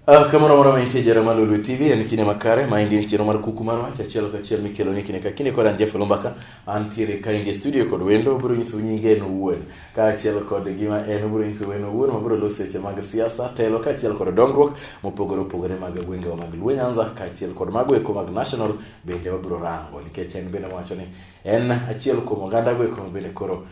Uh, kamano moro mantie jara ma Lulu TV en kine makare ma indie chiro mar kuku mar wach achiel ka achiel mikelo ni kine ka kine kod anje Fulumbaka antiere ka in studio kod wendo obiro nyiso nyinge en owuon kaachiel kod gima en obiro nyiso en owuon mabiro loso weche mag siasa telo kaachiel kod dongruok mopogore opogore mag gwengewa mag luo nyanza kaachiel kod mago eko mag national bende wabiro rango nikech en bende wacho ni en achiel kuom oganda go eko bende koro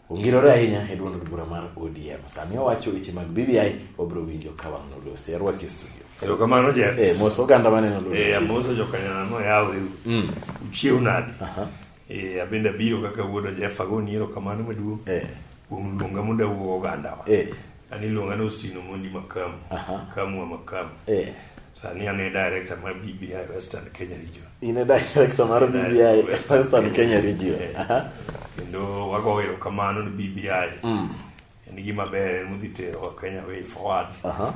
Ongirore ahinya e duond bura mar ODM. Sami owacho weche mag BBI obro winjo ka wang' nolosi. Arwaki e studio. Erokamano Jeff. Eh, mos oganda maneno lwedo. Eh, amoso jokanyana no yawo riu. Mm. Uchiew nadi. Aha. Eh, abende abiro kaka wuoda Jeff agoni erokamano maduong'. Eh. Kuom luonga mondo awuo oganda wa. Eh. An iluonga ni Austin Omondi Makamu. Aha. Makamu wa Makamu. Eh. Sani an e director mar BBI Western Kenya Region. In e director mar BBI Western Kenya Region. Eh. Aha. Kendo wago erokamano ni BBI. Mm. En gima ber en modhi tero Kenya way forward. Aha.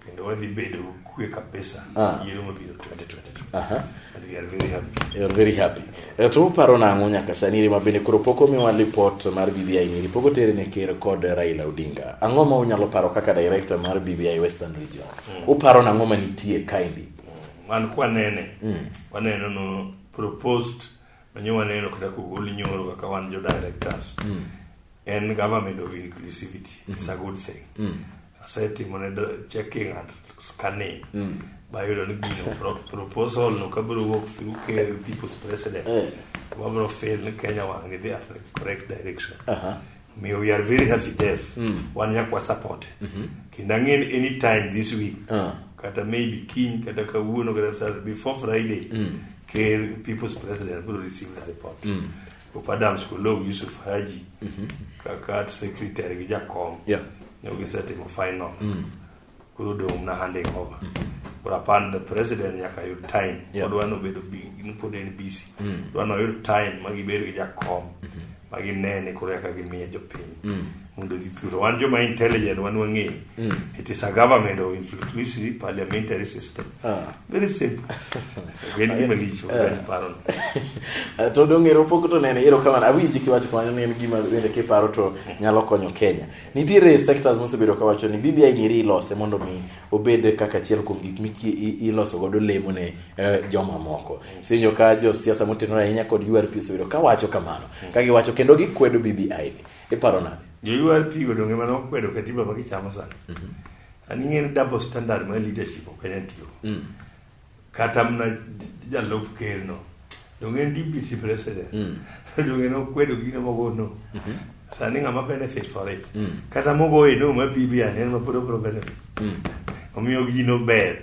kendo wadhi bedo kwe kabisa ah. yiero mabiro 2022 aha and we are very happy you are very happy eh, to uparo nang'o nyaka sani rima bende koro pok omiwa report mar BBI ni ripok otere ne ker kod Raila Odinga ang'o ma unyalo paro kaka director mar BBI Western Region mm. uparo nang'o ma nitie kaendi mm. man kwanene mm. waneno no proposed manyo waneno kata kogol nyoro kaka wan jo directors mm. en government of inclusivity mm -hmm. it's a good thing mm. asetimo ne checking and scanning mm. bayudo ni gino proposal no kabiro wuok through ker people's president mm. wabiro fail ni kenya wang idhi at the correct direction uh -huh. May we are very happy deaf mm. wan nyakwa support mm -hmm. kendo ang'eni anytime this week uh -huh. kata maybe kiny kata kawuono kata thursday before friday mm. ker people's president biro receive the report mm. Pope Adams Kolow, Yusuf Haji mm -hmm. kaka art secretary gi jakom yeah. ne gisetimo final mm. koro odong' mna handing over mm -hmm. koro apan the president nyaka yud time yeah. odwa nobedo pod en busy mm. dwa noyud time ma gibed gi jakom mm -hmm. ma ginene koro eka gimiye jopiny mm. mondo odhi thuro. Wan joma intelligent wan wang'e. Mm. It is a government of influency parliamentary system. Ah. Very simple. Gwen gima licho, ah. gwen paro. Ah, to dong ero pok to nene ero kamano. Awinji kiwacho kamano ni en gima bende kiparo to nyalo konyo Kenya. Nitiere sectors mosebedo kawacho ni BBI ngiri ilose mondo mi obed kaka achiel kuom gik miki iloso godo lemo ne eh, joma moko. Sinjo ka jo siasa motenore ahinya kod URP osebedo kawacho kamano. Mm. Ka giwacho kendo gikwedo BBI ni. Iparo nade? Jo-URP go donge mane okwedo katiba ma gichamo sani. Mhm. An ing'e ni double standard ma leadership ok Kenya tiyo. Mm. Kata mna jalup ker no. Donge en deputy president. Mm. Donge ne okwedo gino mogo no. Mhm. Sani ng'ama benefit for it. Mm. Kata mogo e no ma BBI en ma pod obro benefit. Mm. Omiyo gino ber.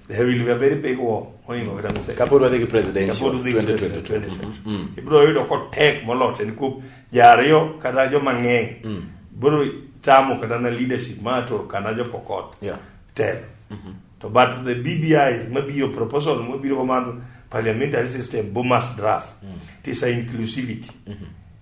There will be a very big war. Mohingo kata mse. Kapod wadhi gi presidential Kapod udhi gi 2022. presidential. Mm. Ibiro yudo kotek molot en kuom jariyo kata joma ng'eny. Biro tamo kata na leadership ma to kana jo pokot. Yeah. Telo. To but the BBI mabiro proposal mabiro go mar parliamentary system bo must draft. It is a inclusivity.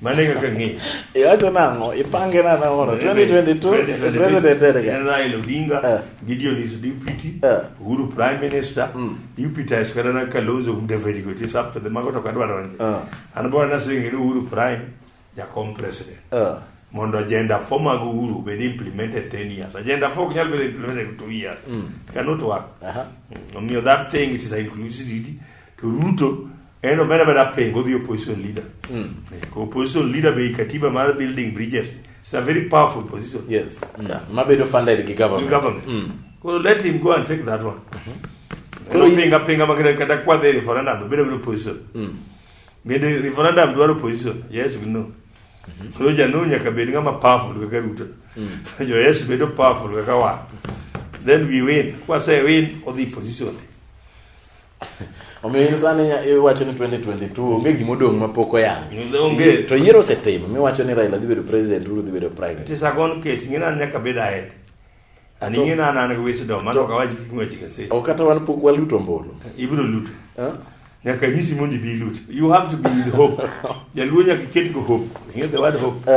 Mane kaka ng'e. Iwacho nang'o? Ipange na nang'o? 2022 president erega. En Raila Odinga, eh. Gideon is deputy, eh. Uhuru prime minister, mm. deputy is kadana Kalonzo Museveni go this up to the mago to kadwa donje. Eh. An bo na singi ni Uhuru prime ya kom president. Mondo agenda for mag Uhuru be implemented 10 years. Agenda for nyal be implemented 2 years. Mm. Cannot work. Aha. Mm. Omiyo that thing it is inclusivity to Ruto En omenda meda pengo dhi opposition leader. Mm. Yeah, opposition leader be katiba mar building bridges. It's a very powerful position. Yes. Mm. Yeah. Mabedo funded gi government. Government. Mm. Well, let him go and take that one. Mm-hmm. Koro pinga pinga makere kata kwa the referendum bedo bedo opposition. Mm. Bende referendum dwaro opposition. Yes, we know. Mm-hmm. Koro janu nyaka bed ngama powerful kaka Ruto. Mm. jo yes bedo powerful kaka wa. Then we win. Kwa say win or the position. omiyo in sani iwacho ni 2022 onge gima odong' ma pok oyang onge to yiero osetim miwacho ni Raila dhi bedo president Uhuru dhi bedo prime minister it's a gone case ngina an nyaka bed ahead ani ngina an an wisdom mano ka waji kik ngwechi gese o kata wan pok waluto mbolo ibiro luto nyaka nyisi mondi bi luto you have to be with hope jaluo nyaka ket go hope ngine the word hope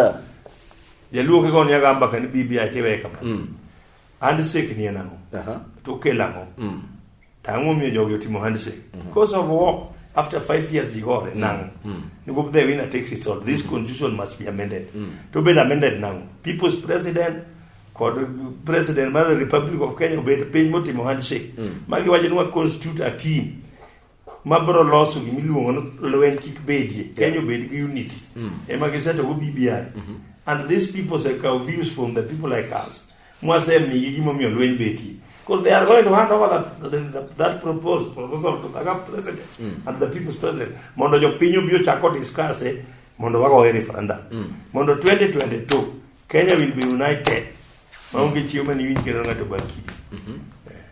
jaluo kiko nyaka ambaka ni bibi achewe kama mm. handshake ni en ang'o uh-huh. to kelo ang'o mm. to ang'o omiyo jogi otimo handshake mm-hmm. because of war after five years igore mm. nang'o mm. nikup the winner takes it all this mm. constitution must be amended mm. to bed amended nang'o people's president kod president mar republic of kenya obed piny motimo handshake mm. magi wacho ni wa constitute a team ma biro loso gima iluongo ni lweny kik bedie yeah. Kenya obed gi unity mm. ema gisetogo BBI mm -hmm. and these people say kaw views from the people like us mwasemigi gimomiyo lweny betie because they are going to hand over that, that, that, that proposed proposal to the president mm. and the people's president mondo jopiny obi ochako discusse mondo wagoye referendum mm. mondo 2022 Kenya will be united Maonge mm. chiemo ni winj kendo ng'ato bakidi. Mhm. Eh.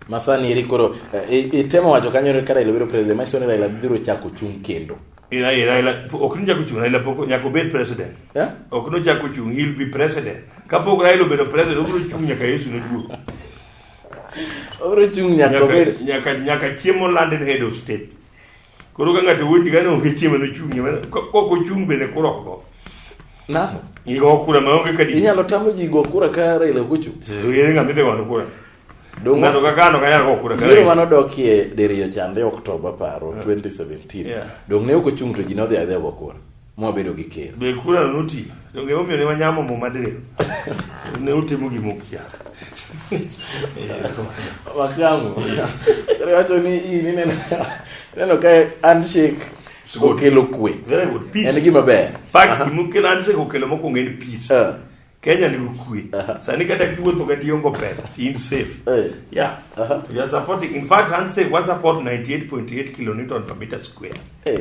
Masani eri koro eh, itemo wacho kanyo ni Raila biro president, manyiso ni Raila biro chako chung' kendo. Ira eh, Raila ok ni chako chung' Raila pok nyaka obed president. Eh? Ok no chako chung' he'll be president. Kapok Raila obedo president, obiro chung' nyaka Yesu ne duogo. Obiro chung' nyaka obed nyaka nyaka chiemo landed head of state. Koro ka ng'ato wuondi ka ne onge chiemo nochung'ie mana ka ok ochung' bende kura ok go. Namo. Igo kura ma onge kadi. Inyalo tamo ji go kura ka Raila ok ochung'. So yere ng'ama idhi gono kura. Dongo- Ng'ato ka kano kanyal go kura ka Yiero Raila. mane odokie diriyo chande Oktoba paro 2017. Yeah. Dong' ne ok ochung' to ji nodhi adhiya go kura. mwabedo gi ker. Be kura noti? To ngeyo mio ne wanyamo mo madre. Ne utimo gi mokia. Wakango. Kare wacho ni i ni neno neno ka handshake okelo kwe. Very good. Peace. En gima ber. Fact uh-huh. mukelo handshake okelo mokwongo en peace. Uh. Kenya ni kwe. Uh-huh. Sani kata kiwuotho kata iongo pesa, in safe. Uh. Yeah. Uh -huh. You are supporting. In fact, handshake was support 98.8 kilonewton per meter square. Uh.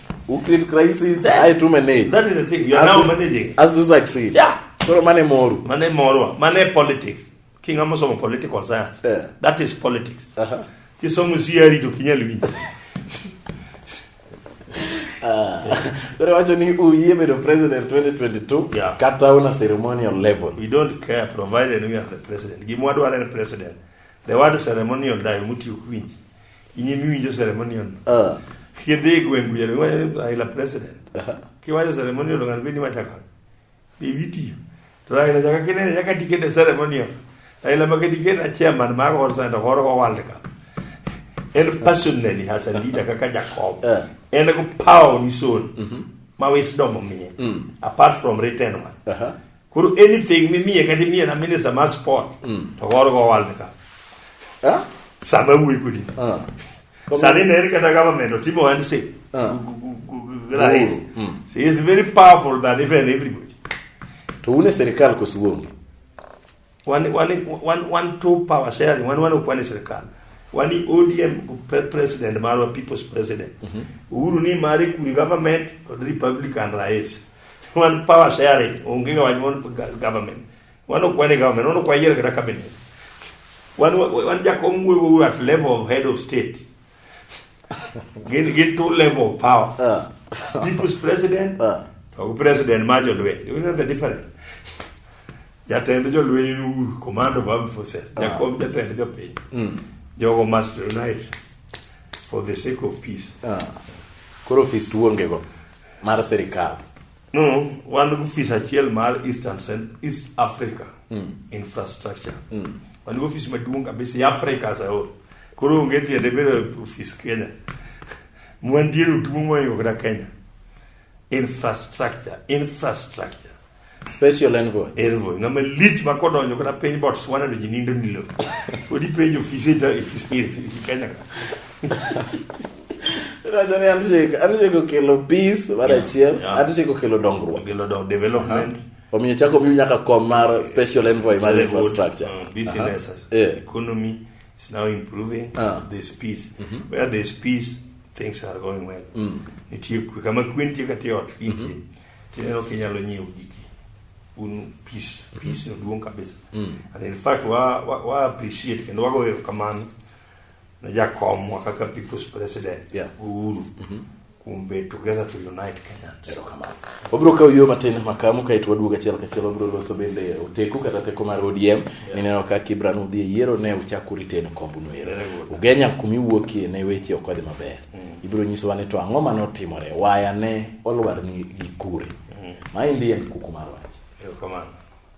who create crisis That- aye to manage that is the thing you are As now to- managing as to succeed yeah koro mane moru mane morwa mane politics kinga mosomo political science Yeah. that is politics Aha. kisomo siari to kinyal winjo koro wacho ni uyie bedo president 2022 Yeah. kata una ceremonial level we don't care provided we are the president gimwa dwaro en president the word ceremonial dayo mutiyo kwinji Inye miwinjo ceremonial. Ah. Kidhi e gweng' kuja iwacho Raila president. Kiwacho ceremonial to ng'ano bende iwacho ang'o? Be witiyo. To Raila nyaka kinene nyaka tiket e ceremonial. Raila maka tiket a chairman mar All Center horo go World Cup. En personally has a leader kaka Jacob. Eh. En go power ni son. Ma wisdom omiye. Apart from written one. Aha. Koro anything mimiye kata imiye na minister mar sport mm. to koro go world cup. Eh? Sama wuyi kudi. Ah. Sani ne kata government otimo ohand se. Ah. Rahis. Mm. So he is very powerful than even everybody. To une serikal kosuonge. Wani wani wan wan two power sharing, wani wani kwani serikali. Wani ODM pre- president marwa people's president. Uhuru ni mari kuri government to the Republican rais. Wan power sharing, onge ga wani wani ga- government. Wani kwani government, wani kwa yere kada cabinet. Wani wani jakom wewe at level of head of state. gin gi two level of power uh. people's president uh. to president ma jolweny you know the difference jatend jolweny command of armed forces uh. jakom jatend jopiny mm. jogo must unite for the sake of peace uh. koro fist wuongego mar sirikal No, wan gi ofis achiel mar East and Cent- East Africa infrastructure. Wan gi ofis maduong' kabisa e Africa as a whole. Koro onge tiende bedo e ofis Kenya. Mwantie otumo moingo kata Kenya. Infrastructure, infrastructure. special envoy Envoy, ng'ama lich ma kodonjo kata piny Botswana to ji nindo nilo. Kodi penjo ofis e ta- e ofis e Kenya ka. Rajani handshake, handshake okelo peace mar Yeah, achiel, yeah. handshake okelo dongruok. Okelo dong- development. Omiyo chako miyo nyaka kom mar special envoy mar Very good. infrastructure. Uh, business, Aha. Yeah. economy is now improving. Ah. There's peace. Where there's peace, things are going well. Nitie kwe. Kama kwe nitie kata e ot, kwe nitie. Tineno ka inyalo nyiewo giki. Un peace. Peace no duong' kabisa. And in fact, wa, wa, wa appreciate kendo wago erokamano ne jakomwa kaka people's president yeah. Uhuru mm -hmm. kuom bedo together to unite Kenyans. Erokamano. Wabiro kawo yo matin makamu kaeto waduog achiel kachiel wabiro loso bende oteku kata teko mar ODM yeah. nineno ka Kibran udhi e yiero ne uchak uriteno kombuno ero. Ugenya kumi wuokie ne weche ok odhi maber. Mm. Ibiro nyisowa ni to ang'o ma notimore waya ne olwar ni gi kure. Mm. Maendi en kuku mar wach. Erokamano.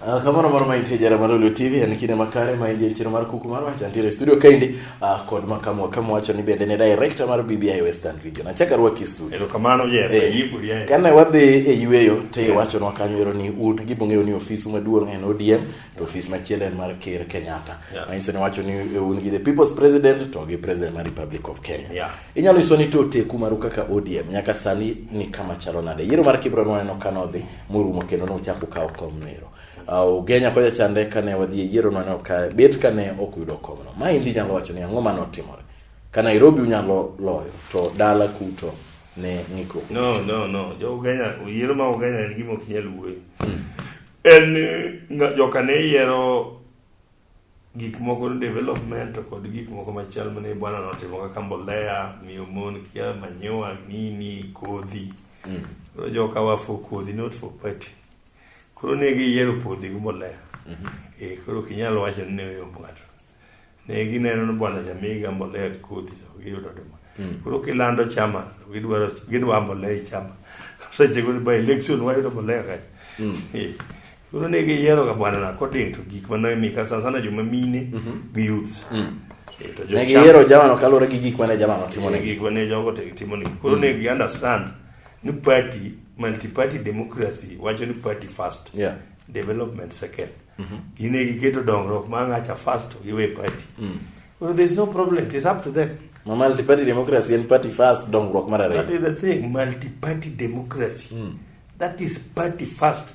Uh, kamano mano ma intie jara mar Olio TV en kinde makare ma ingie chiro mar kuku mar wacha ntiere studio kaindi uh, kod makamwa kama wacho ni bende ne director mar BBI Western Region achaka rwaki studio ero kamano je eh, eh, yibu rie kana wadhi e yueyo te yeah. wacho nwa kanyo ero ni un gi bong'eyo ni ofis maduong' en ODM to ofis machielo en mar Ker Kenyatta yeah. ma inso ni wacho ni e un gi the people's president to gi president mar Republic of Kenya yeah. Inyalo iswa ni to oteku maru kaka ODM nyaka sani ni kama chalo nade? Yiero mar Kibra nwaneno ka nodhi morumo kendo nochak okawo kom noero. Uh, Ugenya kocha chande kane wadhi e yiero nwaneno ka bet kane ok yudo komno. Ma indi nyalo wacho ni ang'o mane otimore? Ka Nairobi unyalo loyo to dala kuto ne ng'ikruok. No, no, no. Jo Ugenya, yiero ma Ugenya en gima ok nyal wuoye. En ni nga- joka ne yiero gik moko development to kod gik moko machal mane bwana notimo kaka mbolea miyo mon kia manyiwa nini kodhi mm. koro joka wa for kodhi not for party koro ne giyiero kodhi gi mbolea mm -hmm. e, koro kinyalo wacho ni ne oyombo ng'ato ne gineno ni bwana jamiga mbolea gi kodhi to giyudo duma mm. koro kilando chama gidwaro gidwa mbolea e chama seche go by election wayudo mbolea kae mm. e. Koro ne giyiero ga bwana na koding to gik ma noe mika sana sana joma mine mhm. gi youths. Mm. Eh, to jo ne giyiero jama no kalore gi gik ma ne jama no timo ne eh, gik ma ne jogo te timo ne. Koro ne mm. gi understand ni party multi party democracy wacho ni party first. Yeah. Development second. Mm -hmm. Gine giketo dongruok ma ngacha first to giwe party. Mm. Well, there's no problem. It is up to them. Ma multi party democracy and party first dongruok mar ariyo. That is the thing, multi party democracy. Mm. That is party first.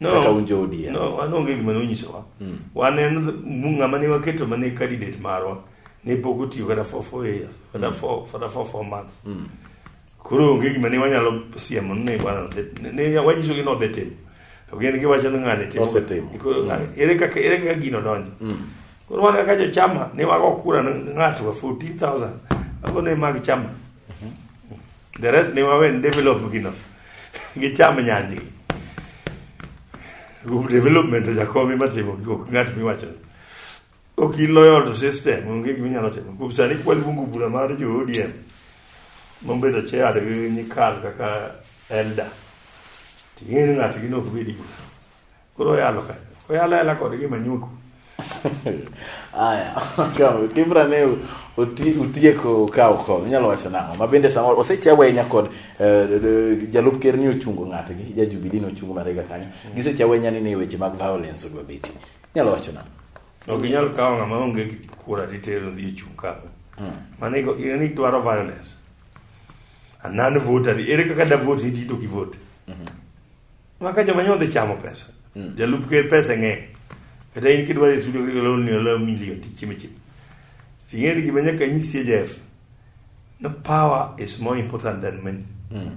No, kata un jo ODM. No, wan onge gima nonyisowa. Mm. Wan en ng'ama ne waketo mane candidate marwa ne pok otiyo kata for four years, kata mm. for, for, for four months. Mm. Koro onge gima ne wanyalo siemo ne wana ne wanyiso gi nodhi timo. To gin giwacho ni ng'ani timo. Osetimo. Mm. Ah, ere kaka ere kaka gino donjo. Mm. Koro wan kaka jochama ne wago kura ng'ato 14,000. Ago ne mag chama. the rest ne wawe ni develop gino gicham nyanjgi group development jakomi matimo gigo ng'at miwacho ok iloyo to system onge gima inyalo timo kuom sani kwaluongo bura mar jo ODM mobedo chair gi nyikal kaka elder ting'e ni ng'atgi ne ok bedi bura Koro oyalo ka. Oyalo ayala kod gima nyuko. Aya, kaw Kibra ne oti utieko kaw ko. Inyalo wacho nang'o? Ma bende sama osechawa ahinya kod eh, jalup ker ni ochungo ng'atgi, ja Jubilee ni ochungo marega kanyo. Gisechawa ahinya ni ne weche mag violence odwa beti. Inyalo wacho nang'o? Ok inyal kawo ng'ama onge gi kura titero dhi ochung' ka. Mano iko in ni dwaro violence. A non voter. Ere kaka da vote ni tito ki vote? Maka joma nyo dhi chamo pesa. Mm. Jalup ker pesa ng'eny. Kata in kidwaro e studio kaka loni olo milion ti chime chime. Ting'eri gima nyaka nyisi Jeff. No power is more important than money. Mm.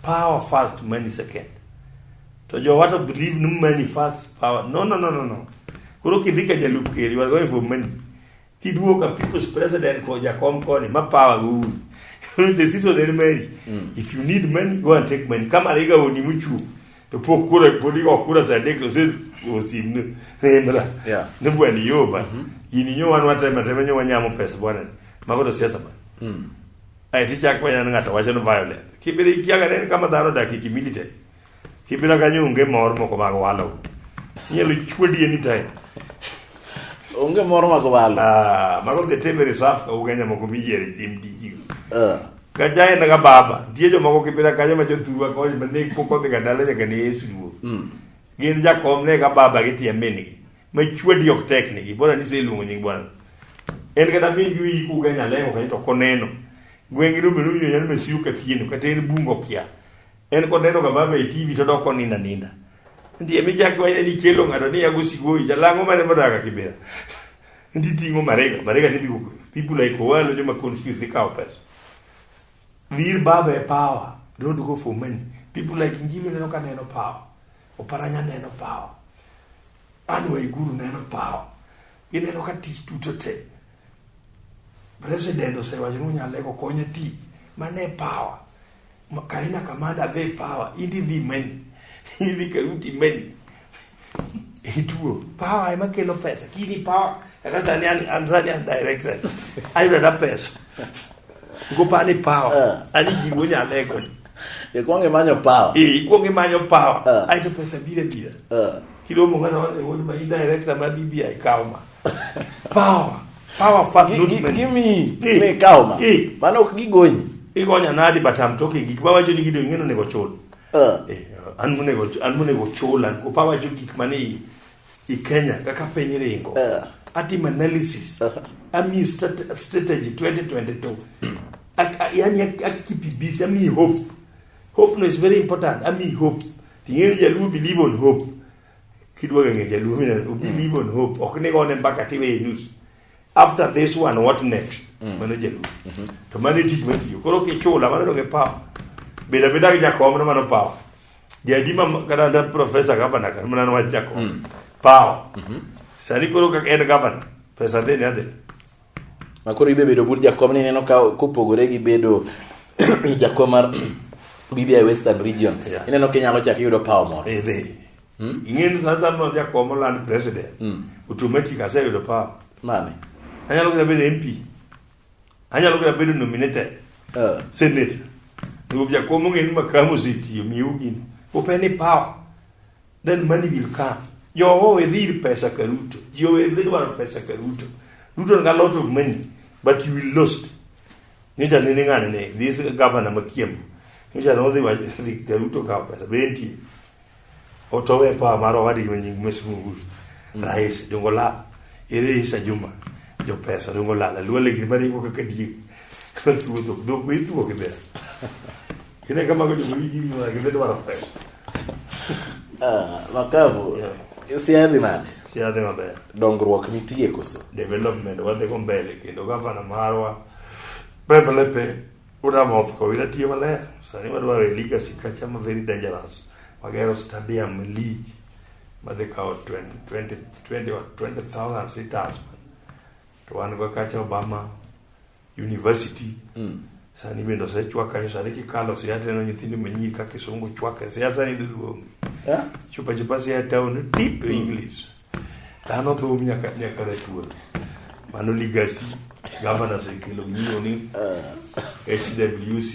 Power first, money second. To jo watu believe no money first, power. No, no, no, no, no. Kuro kidhika jalup ker, you are going for money. Kiduogo ka people's president ko jakom koni ma power go uru. Koro the season en meri. If you need money, go and take money. Kama liga oni muchu. To pok kura podi ok kura sa dek to se osim ne rendra. Yeah. Ne bwani yo ba. Ini nyo wan wata ma teme nyo wanyamo pesa bwana. Mago to siasa ba. Ai ti chak wanya ngata wacho no violent. Kibiri kiaga ne kama dhano dakiki military. Kibira kanyo onge mor moko mag walo. Inyalo chwedi anytime. Onge mor mag walo. Ah, mago the tebe reserve ka ugenya moko miyiere tim tiji. Ah. Ka jaen ga baba, tie jo moko kibira kanyo ma jo tuwa ko ma ne ko ko ga dala ga ne Yesu duo. Mm. Gin ja kom ne ga baba gi tie min gi. Ma chwedi ok tek ne gi. Bora ni se luongo nying bwana. En ga da min gi yi ku genya leo ka to koneno. Gwengi rume rume nyalo mesiu ka thieno ka ten bungo kia. En koneno ga baba e TV to doko ninda ninda. Ndiye mi chak wa ni chelo ngado ni yago sigoi jalango mane modaga kibera. Ndi tingo marega marega ti digo people like walo joma confuse the cow pesa. Vir baba e power don't go for money. People like Ngilo neno ka neno power. Oparanya neno power. Anu Iguru neno power. Gineno ka tich duto te. President osewacho ni unyalo lego konye tich. Mane power. Kaina kamanda ve power indi vi meni hivi karuti meni ituo power ema kelo pesa kini power akasa ni an anzani an director ayo da pesa uko pani power eh. ali jiwo nya lego e kwange manyo power e kwange manyo power eh. ayo pesa bile bile eh. kilo mo ngana wale wodi ma director ma bibi ai kauma Power. Power fuck Gi- not gi- men. give me- Eh, me cow ma. eh, Mano ok gigonyi. Igonya nadi but I'm talking gik mawacho ni gido ing'eno nego chul. Eh. Eh, an monego an monego chul an opa wacho gik mane i, i Kenya kaka piny ringo. Eh. Atim analysis. Ami strate- strategy 2022. Ak- a- Yani ak- ak keep it busy. Ami hope. Hope no is very important. Ami hope. Ting'eyo jaluo believe on hope. kidwa ng'e jaluo mina mm. believe on hope ok ni gone mbaka tiwe e news after this one what next mm. mano jaluo mm -hmm. to mano tich matiyo koro kichula mano donge power beda beda gi jakom no mano power jadi ma kada da professor governor kan mano wa jakom mm. power mm -hmm. sani koro ka en governor pesa deni ade ma koro ibe bedo but jakom ni ineno ka kopogore gi bedo jakom mar BBI Western Region yeah. ineno ka inyalo chak iyudo power moro eh, hmm? ing'eni sa sa no jakom land president hmm. automatic aseyudo power mane anyalo kata bedo MP anyalo kata bedo nominated uh. senator ndio jakom ng'eni makamu sitiyo miu gini upeni power Then money will come. Jogo wedhir pesa ka Ruto. Jio wedhir waro pesa ka Ruto. Ruto got a lot of money, but you will lost. Nyocha nene ng'ane ne, this governor makiembo. Nyocha nodhi wach dhi ka Ruto kawo pesa. Be entie? Otowe pa maro wadi ma nying mesmugul. Rais dongo la. Ere Isa Juma. Jo pesa dongo la. Luwa legiri mari ko kaka diek. Thuotho. Dhok be ithuo kibera. Yine kama kwenye mwiliki ni mwana kizete mara pesa. Ah, makavu. Yeah. Siadhi mane. Siadhi mabe. Dongruok nitie koso. Development wadhi go mbele kendo gavana marwa pepe lepe una moth ko ina tiyo maler. Sani wadwa we legacy kacha ma very dangerous. Wagero stadium league madhi kawo 20 20 20 20,000 sitas. To wan go kacha Obama university mm. sani bende osechwaka sani kikalo siaya tineno nyithindo manyi ka kisungu chwake siaya sani dhi luongi yeah. chupa chupa siaya town tip to mm. english dhano dhum nyaka nyaka ratuon mano ligasi gavana osekelo ng'iyo ni hwc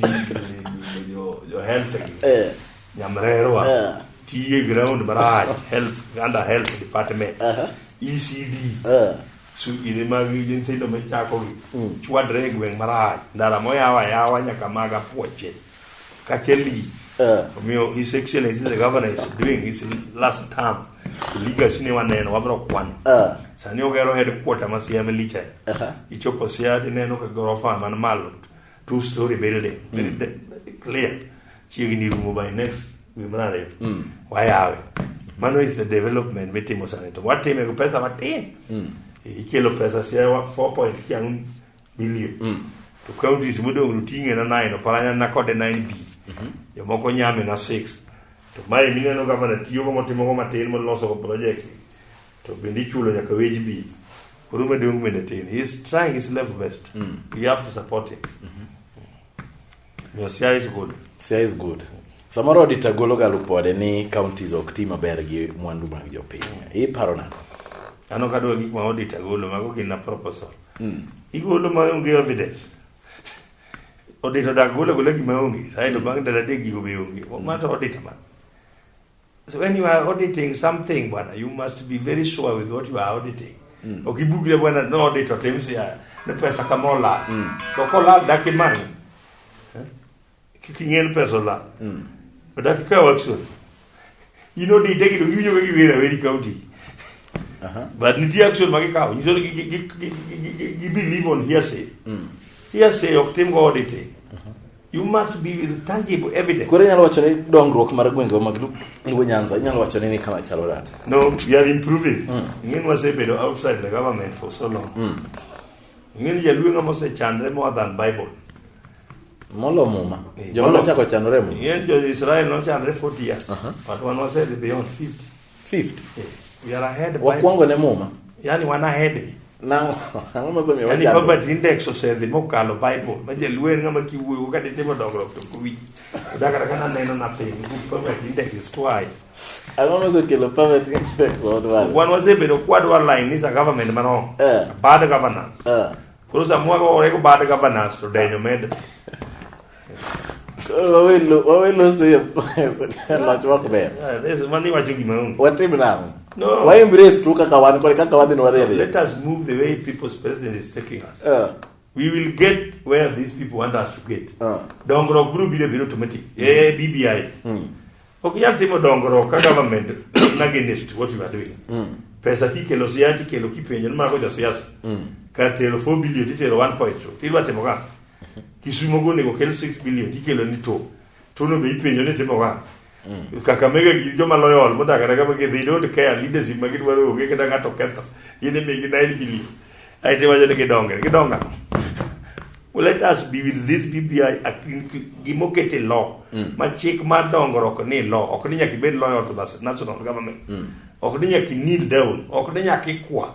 jo, jo health eh. nyamrerwa eh. tiye ground marach health under health department uh -huh. ecd uh -huh. sudi ne mag nyithindo michakogi mm. chwadre e gweng' marach ndara moyawa yawa nyaka mag apuoche kaachiel lich eh. omiyo his excellence the governor is doing his last term legacy ne waneno wabiro kwano eh. sani ogero headquarter ma siame licha uh-huh. ichopo sia tineno ka gorofa man malo two story building very mm. clear chiegni rumo by next dwe mar ariyo mm. wayawe mano is the development mitimo sani to watime gi pesa matin mm. ikelo pesa siawa 4 point kiang'o billion mm. to counties modong' to ting'e na 9 oparanya na kode 9 b mm-hmm. jomoko nyame na 6 to mae mineno gavana tiyogo motimogo matin molosogo project to bende ichulo nyaka wage bill orumo e dong bende tin he is trying his level best mm. you have to support him mm -hmm. your cia is good cia is good samoro odita golo ga lupode ni counties ok ti maber gi mwandu mag jopiny mm. iparo nako ano kadwa gik ma odita golo mago gin na proposal mm. igolo ma onge evidence odita dak golo golo gima onge saeto mm. bang' dala dek gigo be onge mm. mato odita man So when you are auditing something bwana, you must be very sure with what you are auditing. Mm. Ukibugre bwana no audit otimsi ya ne pesa kamola. Mm. To kola daki mani. Eh? Kikingel pesa la. Mm. Daki ka waksu. You know di deki do yunyo wegi wera weri county. Uh -huh. But niti action magi kao. You sort of believe on hearsay. Mm. Hearsay oktim go auditing. You must be with tangible evidence. Koro inyalo wacho ni dongruok mar gwengewa mag Luo Nyanza inyalo wacho ni ni kama chalo nade? No, we are improving. Mm. Ing'eni wasebedo outside the government for so long. Mm. Ing'eni jaluo ng'ama osechandre more than Bible. Molo muma. Eh, Joma nochako chanore muma. Ing'eni jo Israel nochandre 40 years. Uh -huh. But wan wasedhi beyond 50. fifth eh, we are ahead by wakwongo ne muma yani wan ahead gi nango ang'o mosomiyo yani poverty index osedhi mokalo bible ma jaluo en ng'ama kiwuoyo ka ditimo dongruok to kuwi oda kata kana neno nothing poverty index is too high ang'o mosekelo poverty index odwaro wan wasebedo kwadwa line ni sa government mano eh. bad governance eh. koro samwa gore ko bad governance to denyo med watim nang'o No. Why embrace tu kaka wan kore kaka wadhi nwadhi adhi. Let us move the way people's president is taking us. Uh. We will get where these people want us to get. Uh. Dongruok biro biro biro automatic. Mm. Eh BBI. Mm. Ok nyal timo dongruok ka government against what you are doing. Mm. Pesa kikelo siati kelo kipenjo ni mago jo siasa. Mm. Kar tero 4 billion titero 1.2. Tidwa timo ka. Kisumo go onego kel 6 billion tikelo ni to. To no be ipenjo ni timo wa. Mm. Kakamega gi joma loyo ol modak kata kama gi they don't care leadership ma gidwaro onge kata ng'ato ketho. Yene be gi 9 billion. Ai te wajo ni gidonge, gidonga. Well, let us be with this BBI gimokete law mm. ma chik ma dongruok ni law ok ni nyaka ibed lawyer to the national government mm. ok ni nyaka kneel down ok ni nyaka ikwa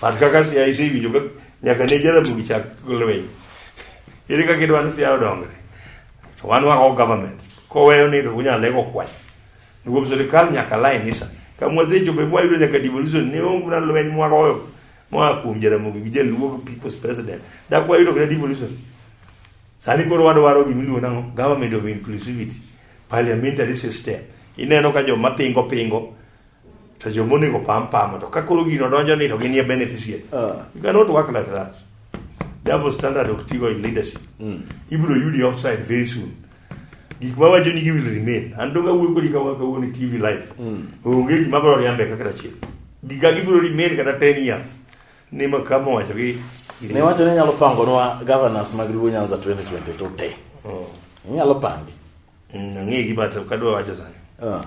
Pat kaka siaya isewinjo ka nyaka ne Jaramogi chak lweny. Ere kaka idwa ni siaya odongre? To wan wako government. Koweyo ni to unyalo lego kwany. Nikuwa serikali nyaka laini sa. Kama wazecho be mwayudo nyaka devolution ne onge na lweny mwagoyo mwa kuom Jaramogi gi Jaluo people's president. Dak wayudo kata devolution. Sani koro wadwaro gimiluongo nang'o? Government of inclusivity. Parliamentary system. Ineno ka joma pingo pingo to joma onego pam pamo to kakoro gino donjo ni to ginie beneficiary uh. you cannot work like that double standard ok tigo in leadership mm. ibiro yudi offside very soon gik ma wacho ni gi will remain an to kawuoyo kodi ka wakawuono tv life mm. onge gima biro riambe kaka achiel giga gibiro remain kata 10 years ni ma kama wacho gi ne wacho ni nyalo pangonwa governors mag Luo Nyanza 2020 to te mm. nyalo pangi Mm, ang'egi but ok adwa wacho sani Ah,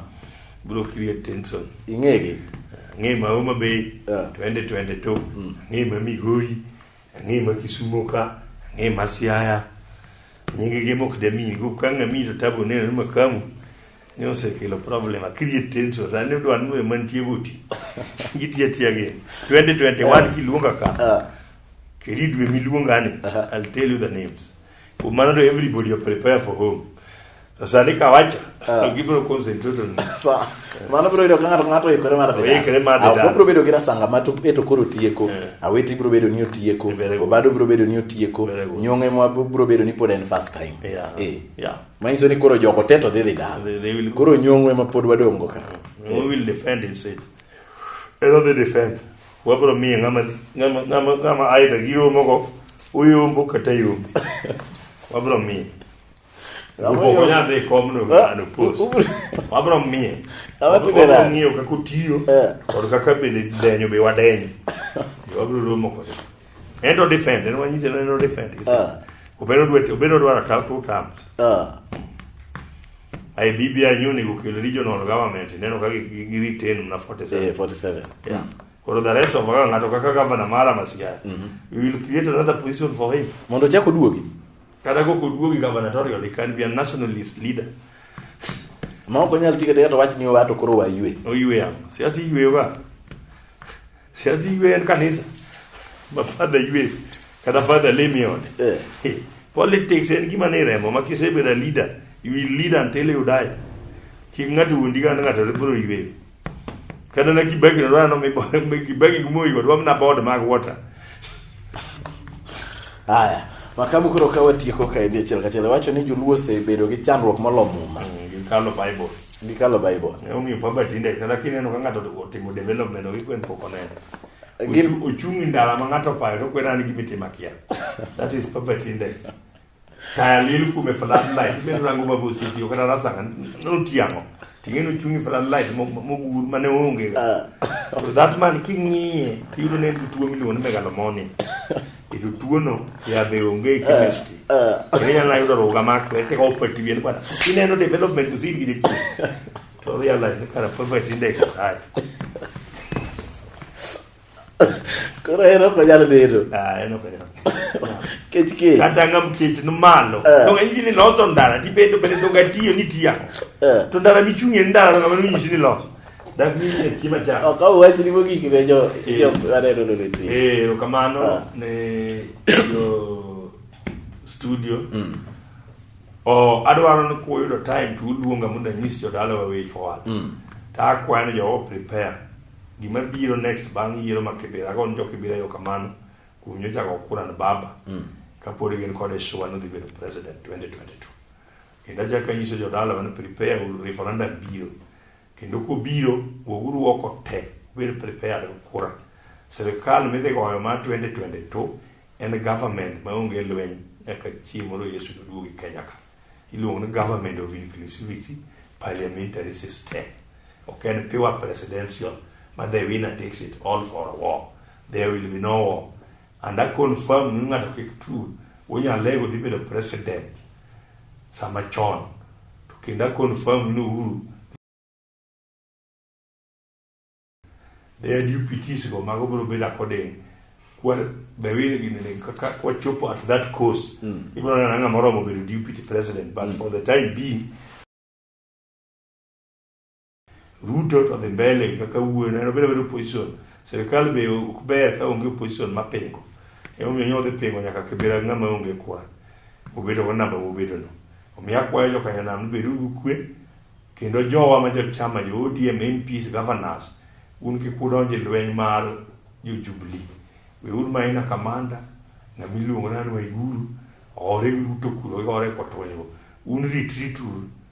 bro create tension ing'egi ang'e ma Homa Bay Yeah. twende twende to ang'e ma Migori ang'e ma Kisumo ka ang'e ma Siaya nyingi gi mok demi go kanga mi to tabo neno ni makamu ni osekelo problem a create tension sani udwa ni wewe mantie goti gitiya tiya gi 2021 kiluonga ka Ah, keri dwe miluonga ni I'll tell you the names Maneno everybody are prepare for home. Sasa nikawacha. Ah. Ngibro concentrate on. Sawa. Mano bro ido kanga ngato ikore mar dhia. Ikore mar dhia. Apo bro bedo gira sanga matu eto koro tieko. Eh. Aweti bro bedo ni otieko. Eh, Obado bro bedo ni otieko. Eh, Nyonge mwa bro bedo ni pod en first time. Yeah. Eh. Yeah. Manyiso ni koro jogo teto dhi dhi dal. Koro nyongwe ma pod wadongo ka. We will defend it said. Ero the defend. Wabro miye ng'ama ng'ama ng'ama ng'ama aidha gi romo go uyombo kata yombo. Wabro miye. Upoko nyadhi kom no ano pos. Wabro miye. Wabro ng'iyo kaka otiyo eh. kod kaka bende denyo be wadenyo. Wabro romo kode. And to defend, and when you say no defend, he said, Obero duet, Obero duara tau two terms. Ah. I BBI uni kukil regional government, neno kaki giri ten mna 47. Yeah, 47. Yeah. Mm. Koro the rest of kaka ngato kaka governor mara masiya. Mm -hmm. We will create another position for him. Mondo chako duogi. Kada go kuduogi gubernatorial, he can be a nationalist leader. Ma ok onyal tikete kata wach ni wato koro waywe. Oywe yamo. Siasi ywe ba. siazi iwe en kanisa ma father iwe kata father lemi e ode Eh. Eh, politics en gima ni remo ma kisebedo a leader you will lead until you die kik ng'ato wuondi kata ng'ato biro yweyo kata na kibaki no rano mi kibaki gumoyi kod wamna board mag water Haya, makamu koro ka watieko ka en achiel kachiel wacho ni joluo osebedo gi chandruok molo muma. kalo bible gikalo bible ne omiyo pamba tinde kata kineno ka ng'ato otimo development ok ikwen pok oneno Gim- Ochu- ochung' e ndara ma ng'ato opayo to kwena ni gimitimo akia that is poverty index taya lil kume floodlight imedo rango ma bositiyo kata rasanga notiang'o ting'eni ochung' e floodlight mo- mo- mogur mane onge to that man king'iye tiyudo ne en gi tuo miluongo ni megalomonia to tuono yadhe onge eh, chemistry eh. kendo inyalo yudo ruga mar to ete opati wien bana ineno development to sin gi jeki to realize ni kana perfect index sai koro ero ko nyalo dero ah ero ko nyalo kech kech kata ngam kech no malo eh. no ngi ni loso ndara ti bedo bedo ga tiyo ni tiya to ndara mi chungi ndara ngam ni nyisi ni loso Dak ni e kima cha. Ok au wach ni mogik ne jo eh. jo aneno no ne ti. Eh, kamano ah. ne jo studio. Mm. Oh, adwaro ni kuyudo time to uluonga mondo anyis jodalawa way forward. Mm. Ta akwayo ni jowa prepare gima biro next bang' yiero ma Kibera go njo Kibera yo kamano kuom nyocha go kura na baba. Mm. Kapod gin kod Shwa no dhi bedo president 2022. Kendo achako anyiso jodalawa ni prepare referendum biro. Kendo kobiro, woguru oko te, ubed prepared kura. Sirkal midhi goyo ma 2022 en government maonge lweny nyaka chieng' moro Yesu noduogi Kenya ka. Iluongo ni government of inclusivity parliamentary system. Ok en pure presidential ma they win and takes it all for a war. There will be no war. And I confirm ni ng'ato kik tu unyalego dhi bedo president sama chon to kendo I confirm ni Uhuru their deputies go mago biro bedo according kwa bewire gini ni kaka kwa chopo at that coast mm. ibiro nana ng'ama oromo bedo deputy president but mm. for the time being Ruto to dhi mbele kaka wuon en obedo bedo opposition. Sirkal be ok ber ka onge opposition ma pingo. Ema omiyo nyodhi pingo nyaka kibira ng'ama onge kwa. Obedo go namba mobedo no. Omiyo akwayo joka nyanam bedo gi kwe kendo jowa ma jo chama jo ODM MPs governors un kik udonj e lweny mar jo Jubilee. We un ma ina kamanda na miluongo nanu Waiguru ore gi Ruto kuro gore kotwenyo. Un ritri turu.